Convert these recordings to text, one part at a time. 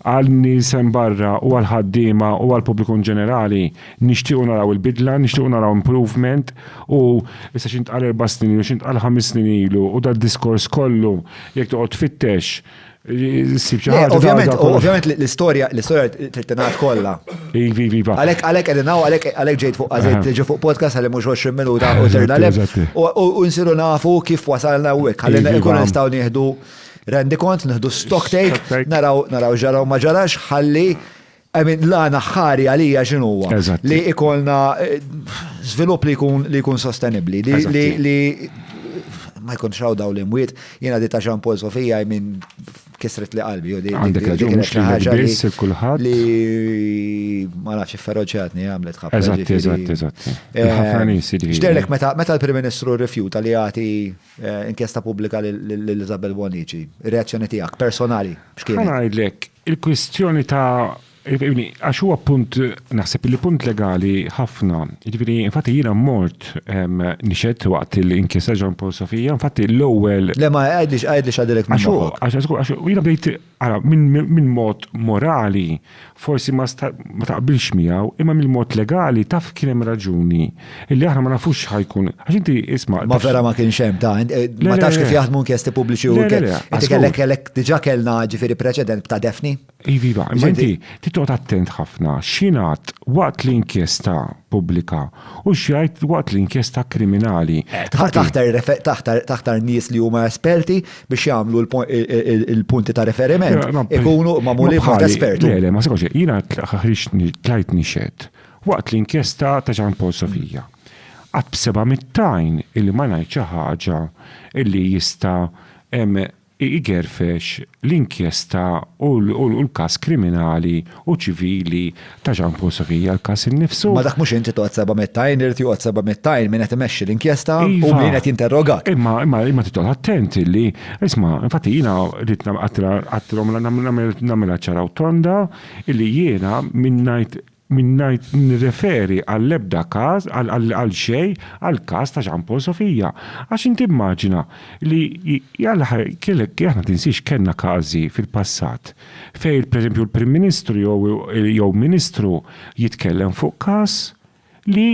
Għan-nies hemm barra u għall-ħaddiema u għall-pubbliku in ġenerali, nixtiequ naraw il-bidla, nixtiequ naraw improvement u issa x'intqal erba' snin ilu, x'intqal ħames snin ilu u dad-diskors kollu jekk toqgħod tfittex issib xi ħaġa ta' da kollu. Ovvjament l-istorja trid tingħad kollha. Iva, iva, iva. Għalhekk għalhekk qegħdin hawn għalhekk ġejt fuq għażilt tiġi fuq podcast għalli mhux 20 minuta u terna lef u nsiru nafu kif wasalna hawnhekk ħalli nkunu nistgħu nieħdu Rendi kont, nħdu stock take, naraw, naraw ġaraw ma ġarax, ħalli, għamin, l-għana ħari għalija ġinuwa. Li ikolna eh, svilup li jkun li jkun sostenibli, li li ma jkun xaw daw li mwiet, jena di ta' Jean Paul Sofija, għamin, kisret li qalbi, u di. Għandek raġun, mux li ħagġa kullħat. Li ma nafx ferroċatni għamlet ħabba. Eżatt, eżatt, eżatt. Eh, Ġderlek meta l-Prim Ministru rifjuta li għati Inkjesta pubblika lil Isabel Bonnici. Ir-reazzjoni tiegħek personali x'kienet? Ħa ngħidlek, il-kwistjoni ta' għax huwa punt naħseb li punt legali ħafna. Jiġifieri infatti jiena mort nixed waqt l-inkjesta Jean Paul Sofia, infatti l-ewwel Le ma għidlix għidlix għadilek minn moħħok. Għax jiena bdejt Ara, minn mod morali, forsi ma taqbilx miegħu, imma minn mod legali taf kien hemm raġuni. Illi aħna ma nafux x'ħajkun. Għax inti isma'. Ma vera ma kienx hemm ta' eh, ma tafx kif jaħdmu inkjesti pubbliċi u Inti kellek kellek diġà kellna ġifieri preċedent ta' Defni. Iva, iva imma inti titqgħod attent ħafna x'jingħad waqt l-inkjesta pubblika u x'jgħid waqt l-inkjesta kriminali. Eh, taħtar nies li huma esperti biex jagħmlu l-punti ta' referiment ikunu magħmuli b'mod espertu. Le, le, ma sekonx, jiena ħriġ tajt nixed waqt l-inkjesta ta' Ġan Paul Sofija. Qatt b'seba' mittajn illi ma ngħid xi ħaġa illi jista' igerfex l-inkjesta u l-każ kriminali u ċivili ta' Jean Paul Socchi hija l-każ innifsu. Imma dak mhux inti toqgħod seba' mitt għajn, irid joqgħod seba' mitt għajn min qed imexxi l-inkjesta u min qed jinterrogak. Iva, imma imma trid toqgħod attent illi, isma', infatti jiena ridt għedtilhom nagħmilha ċara u tonda illi jiena min ngħid min ngħid nirreferi għall-ebda każ għal xejn għall-każ ta' Jean Paul Sofia. Għax inti immaġina li jalla kellek aħna tinsiex kellna każi fil-passat Fejn, pereżempju, l-Prim Ministru jew Ministru jitkellem fuq każ li,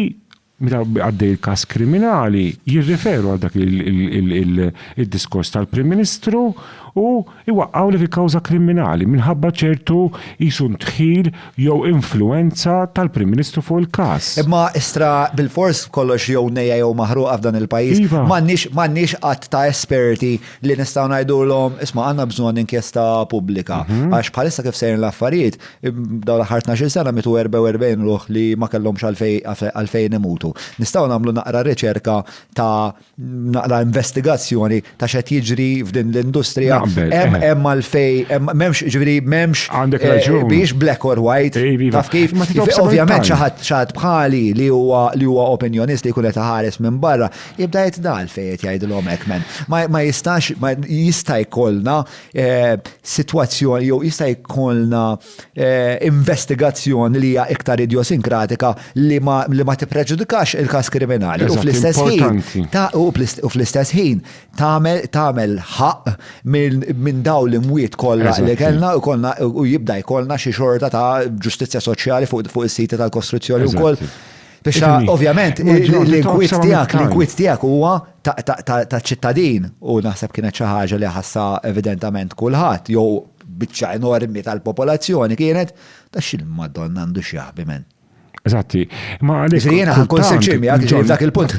meta għaddej il-każ kriminali, jirriferu għal dak id-diskors tal-Prim Ministru u jwaqqgħulek il-kawża kriminali minħabba ċertu qisu ndħil jew influwenza tal-Prim Ministru fuq il-każ. Imma istra bilfors kollox jew nejja jew maħruqa f'dan il-pajjiż. M'għandniex għadd ta' esperti li nistgħu ngħidulhom isma' għandna bżonn inkjesta pubblika. Mhm. Għax bħalissa kif sejrin l-affarijiet, dawn l-aħħar 12 sena mitu 44 ruħ li ma kellhomx għalfejn imutu. Nistgħu nagħmlu naqra riċerka ta' naqra investigazzjoni ta' x'qed jiġri f'din l-industrija. Hemm eh. hemm għalfej m'hemmx ġifieri m'hemmx għandek eh, raġun. Biex black or white. Taf kif? Ovvjament xi ħadd bħali li huwa li huwa opinjonist li jkun qed ħares minn barra Jibda jgħid dal fejn qed jgħidilhom hekk men. Ma jistax jista' jkollna eh, sitwazzjoni jew jista' jkollna eh, investigazzjoni li hija iktar idiosinkratika li ma li ma tippreġudikax il-każ kriminali. U fl-istess ħin u fl-istess ħin tagħmel ħaq minn daw l-imwiet kollha li kellna u kollna u jibda jkollna xi xorta ta' ġustizzja soċjali fuq is-siti tal-kostruzzjoni wkoll. Biex ovvjament l-inkwit tiegħek, l-inkwit tiegħek huwa ta' ċittadin u naħseb kienet xi ħaġa li ħassa evidentament kulħadd jew biċċa enormi tal-popolazzjoni kienet ta' xil madonna għandu xi jaħbi men. Eżatti, ma għalhekk. Jiena ħankun sinċir miegħek dak il-punt.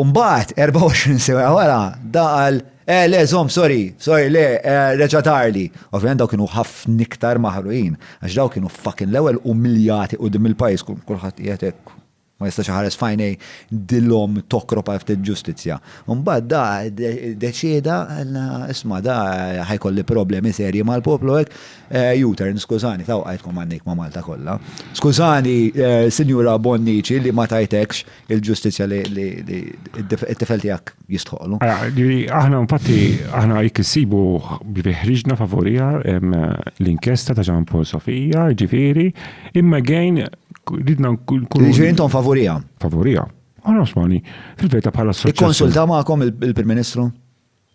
U mbagħad 24 siegħa wara da qal, eh le żomm sorry, sorry le, reġa' darli. Ovvjament dawk kienu ħafna iktar maħruqin għax dawk kienu fucking l-ewwel umiljati quddiem il-pajjiż kulħadd qiegħed hekk ma jistax iħares f'għajnej dil-omm tokrop għal ftit ġustizzja. U mbagħad da deċieda isma' da ħajkolli problemi serji mal-poplu hekk, U-turn skużani ta' wqajtkom għandejk ma' Malta kollha. Skużani Sinjura Bonnici li ma tajtekx il-ġustizzja li it-tifel tiegħek jistħoqlu. Aħna infatti aħna jekk issibu li ħriġna favorija l-inkjesta ta' Ġan Paul Sofija, ġifieri, imma gejn ridna nkun. Ġifieri intom favorija. Favorija. Għana osmani, fil-veta bħala s-soċjali. Ikkonsulta magħkom il-Prim Ministru?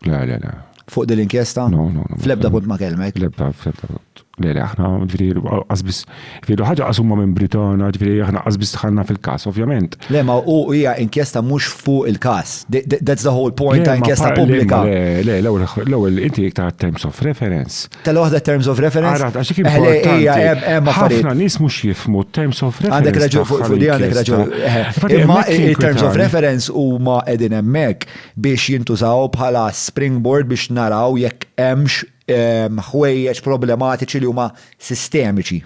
Le, le, le. Fuq din l-inkjesta? No, no, no. Flebda punt ma kelmek? Flebda, flebda punt. Le, le, aħna, ġviri, għazbis, ġviri, ħagġa għasumma minn Britana, ġviri, aħna għazbis tħanna fil-kas, ovvjament. Le, ma u hija inkjesta mux fuq il-kas. That's the whole point ta' inkjesta publika. Le, le, l-ewel, inti iktar terms of reference. Tella waħda terms of reference? Għarat, għaxik importanti. Ħafna nis mux jifmu terms of reference. Għandek raġu, fuq di għandek raġu. Terms of reference u ma edin emmek. biex jintużaw bħala springboard biex naraw jekk hemmx ħwejjeġ problematiċi li huma sistemiċi.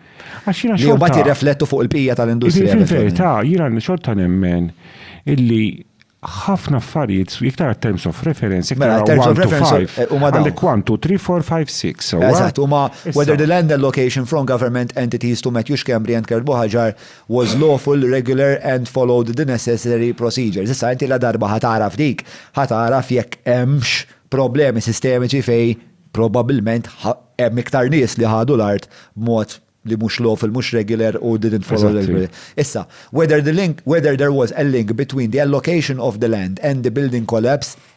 Għax jiena xorta. Li mbagħad jirreflettu fuq il-bqija tal-industrija. Fil-verità, jiena xorta nemmen illi ħafna affarijiet, iktar terms of reference, iktar mela, terms of reference eh, huma dawn. Għandek 1, 2, 3, 4, 5, 6. Eżatt, huma whether the land allocation from government entities to Matthew Schembri and Kurt Bohaġar was lawful, regular and followed the necessary procedures. Issa inti ladarba ħa tagħraf dik, ħa tagħraf jekk hemmx problemi sistemiċi fejn probabbilment hemm iktar nies li ħadu l-art b'mod li mhux lawful, mhux regular u didn't follow the Eżatt, hi. Issa, whether the link, whether there was a link between the allocation of the land and the building collapse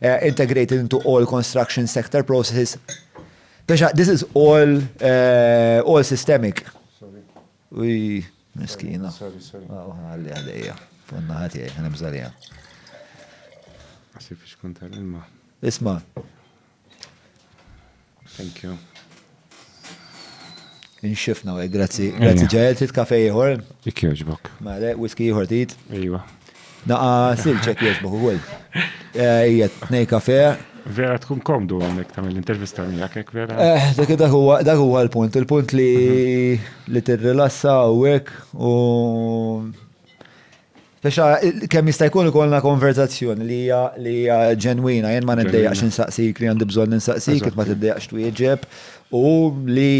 integrated into all construction sector processes. Pesha, this is all, uh, all systemic. Sorry. Uj, miskina. Sorry, sorry. Oh, għalli għalija. Funna ħati, għana bżalija. Għasif ix konta l-ilma. Isma. Thank you. Inxifna għaj, grazzi. Grazzi ġajel, trid kafe ieħor? Ik jogħġbok. Male, whisky ieħor trid? Ejwa. Naqa silċek jogħġbok ukoll. Eh, ija, tnej kafe. Vera tkun komdu għonek ta' l-intervista miegħek hekk vera. Eh, dak dak huwa dak huwa l-punt, il-punt li mhm. li tirrilassa u hekk u Taxa, kemm jista' jkun ikollna konverzazzjoni li hija li hija ġenwina, jien ma niddejjaqx insaqsik li għandi bżonn insaqsik, kif ma tiddejjaqx twieġeb u li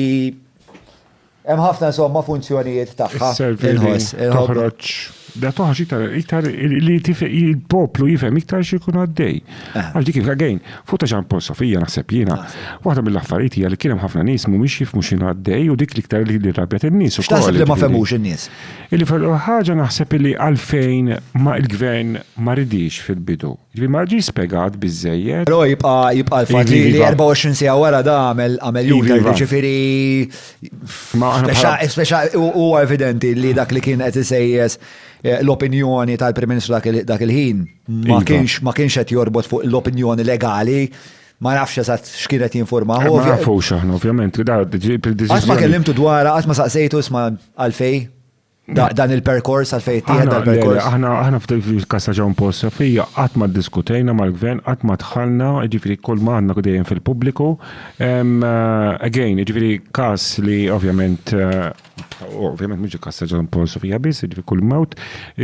hemm ħafna insomma funzjonijiet tagħha. Inħoss, toħroġ. Da toħroġ iktar iktar li il-poplu jifhem iktar xi jkun għaddej. Eh. Għal dik il-għagħin, fuq ta' ġan Sofija naħseb jiena, ah. waħda mill-affarijiet hija li kien hemm ħafna nies mhumiex jifhmu x'inhu għaddej u dik l-iktar li rabjat in-nies ukoll. X'taħseb li ma femux in-nies? Illi fl-ewwel ħaġa naħseb illi għalfejn ma il-Gvern ma ridiex fil-bidu. Jiġifieri ma ġiex spjegat biżżejjed. Però jibqa' jibqa' l-fatt li 24 siegħa wara da għamel għamel U-turn, jiġifieri speċa huwa evidenti li dak li kien qed isejjes l-opinjoni tal-Prim Ministru dak il-ħin ma kienx ma kienx qed jorbot fuq l-opinjoni legali Ma nafx eżatt x'kienet jinformaħ. Ma nafux aħna, ovvjament, li da Qatt ma kellimtu dwar, qatt ma saqsejtu isma' għalfej dan il-perkors għalfej tieħed dal-perkors. Aħna aħna f'kas ta' John Paul Sofija qatt ma ddiskutejna mal-gvern, qatt ma dħalna, jiġifieri kull ma għandna dejjem fil-pubbliku. Again, jiġifieri każ li ovvjament ovvjament mhux il-każ ta' John Paul Sofija biss, jiġifieri kull mewt,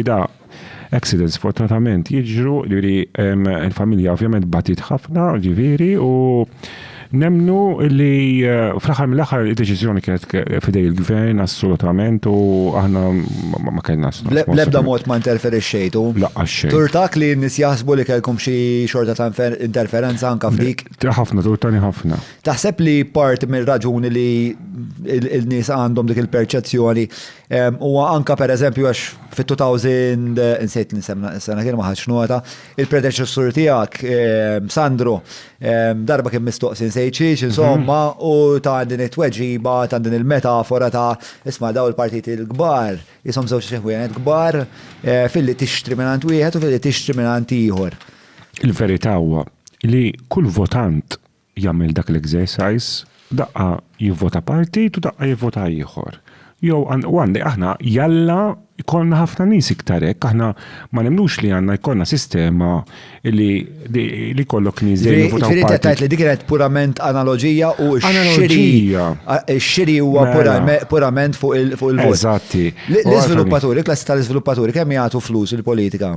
da Accidents fortunatament jiġru li l-familja ovvjament batit ħafna, ġifieri, u nemnu li eh, fl-aħħar mill-aħħar id-deċiżjoni kienet fidej il-gvern assolutament u aħna ma kellna L-ebda mod ma interferixxejtu. Laqqa xejn. Turtak li n-nies jaħsbu li kellkom xi xorta ta' interferenza anka f'dik. Ħafna, turtani ħafna. Taħseb li part mir-raġuni li il-nies għandhom dik il-perċezzjoni eh, huwa anka pereżempju għax Fit-2000, insejt nisem sena kien ma ħadx nota, il-predeċessur tiegħek ehm, Sandro, ehm, darba kien mistoqsi nsejt xiex, mhm. insomma, u ta' din it-tweġiba, ta' din il-metafora ta' isma' daw il-partiti l-kbar, jisom żewġ ħwienet kbar, eh, fil-li tixtri minn wieħed u fil-li tixtri minn ieħor. Il-verità huwa li kull votant jagħmel dak l-exercise, daqqa jivvota partit u daqqa jivvota ieħor. Jew għan- u għandi aħna jalla jkollna ħafna nies iktar hekk, aħna ma nemnux li għandna jkollna sistema li li li jkollok nies dejjem Ġifieri jivvotaw ġifieri inti qed partit. tgħid li dik kienet purament analoġija u x-xiri Analoġija. a- x-xiri huwa Mela. purame- purament fuq il- fuq il-vot. Eżatti. L- U għalfejn- L-iżviluppaturi, klassi tal-iżviluppaturi kemm jagħtu flus il-politika?